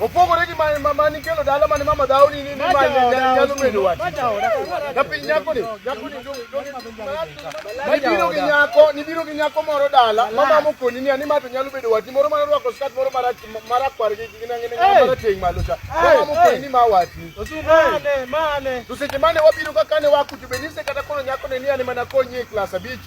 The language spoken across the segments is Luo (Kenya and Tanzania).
Opogore gi mane mama ni kelo dala mane mama dhaw ni ni mama nyalo medo wach. Ka piny nyako ni, nyako ni dong dong. Nibiro gi nyako, nibiro gi nyako moro dala, mama mokoni ni ani mato nyalo bedo wati moro mane rwako skat moro mara mara kwar gi gi nangi ni mara ting malo cha. Mama mokoni ni ma wati. Mane, mane. Tuseche mane wabiro ka kane wakuti benise kata kono nyako ni ani mana konyi e klas abich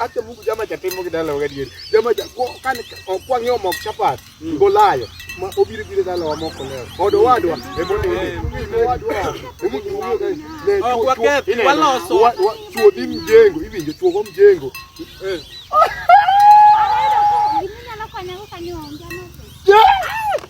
Acha Mungu jama cha temo kidala wakati yeri. Jama cha kwa kan kwa ngeo mok chapat. Ngolayo. Ma obiri biri dala wa moko leo. Odo wadwa. Ebo ni ni wadwa. Ebo ni wadwa. Ne kwa kwa wala so. Wa chuo di mjengo. Hivi ndio chuo mjengo. Eh.